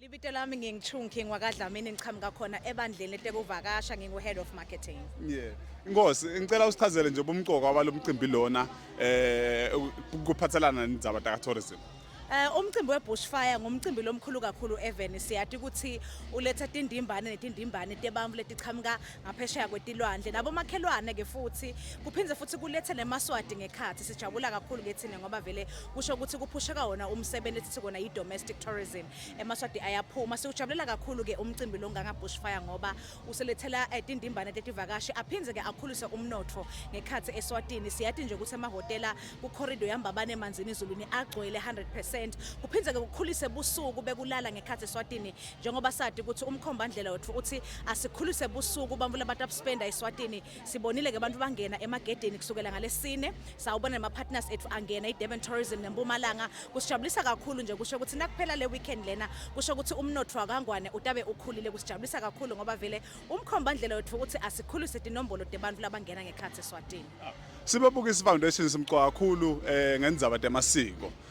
Libito lami ngingu-Chung King wakaDlamini ngiqhamuka khona ebandleni eTekuvakasha ngingu-Head of Marketing. Yeah. Inkosi ngicela usichazele nje ubumqoka walo mcimbi lona eh kuphathelana nendaba taka tourism. Eh umcimbi webushfire ngumcimbi lomkhulu kakhulu eveni siyati ukuthi uletha tindimbane netindimbane tebantu letichamuka ngaphesheya kwetilwandle nabomakhelwane ke futhi kuphinde futhi kulethe nemaswadi ngekhathi sijabula kakhulu ke thina ngoba vele kusho ukuthi kuphusheka wona umsebenzi esithi kona yi-domestic tourism emaswadi ayaphuma siwujabulela kakhulu ke umcimbi lo ngangabhushfire ngoba uselethela eh, tindimbane tetivakashi aphinde ke akhulise umnotho ngekhathi eswatini siyathi nje ukuthi emahhotela kukhorido yambabane emanzini izulwini agcwele 100 kuphinde ke kukhulise busuku bekulala ngekhathi eswatini njengoba sadi ukuthi umkhombandlela wethu uthi asikhulise busuku bamvula abantu abuspenda eSwatini sibonile ke abantu bangena emagedeni kusukela ngalesine sawubona nama partners ethu angena iDurban Tourism neMpumalanga kusijabulisa kakhulu nje kusho ukuthi nakuphela le weekend lena kusho ukuthi umnotho wakangwane utabe ukhulile kusijabulisa kakhulu ngoba vele umkhombandlela wethu uthi asikhulise inombolo debantu labangena ngekhathi eSwatini Sibabukisa ifoundation simqwa kakhulu eh ngenzaba demasiko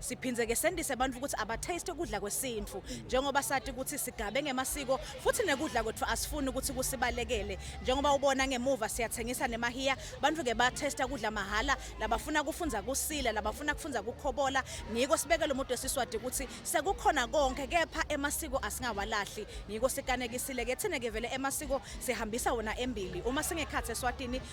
Siphinde ke sendise abantu ukuthi abataste ukudla kwesintu njengoba sati ukuthi sigabe ngemasiko futhi nekudla kwethu asifuni ukuthi kusibalekele njengoba ubona ngemuva siyathengisa nemahiya abantu ke batesta kudla mahala labafuna kufunda kusila labafuna kufunda kukhobola ngiko sibekele umuntu esiswadi ukuthi sekukhona konke kepha emasiko asingawalahli ngiko sikanekisile ke thina ke vele emasiko sihambisa wona embili uma singekhathi eswatini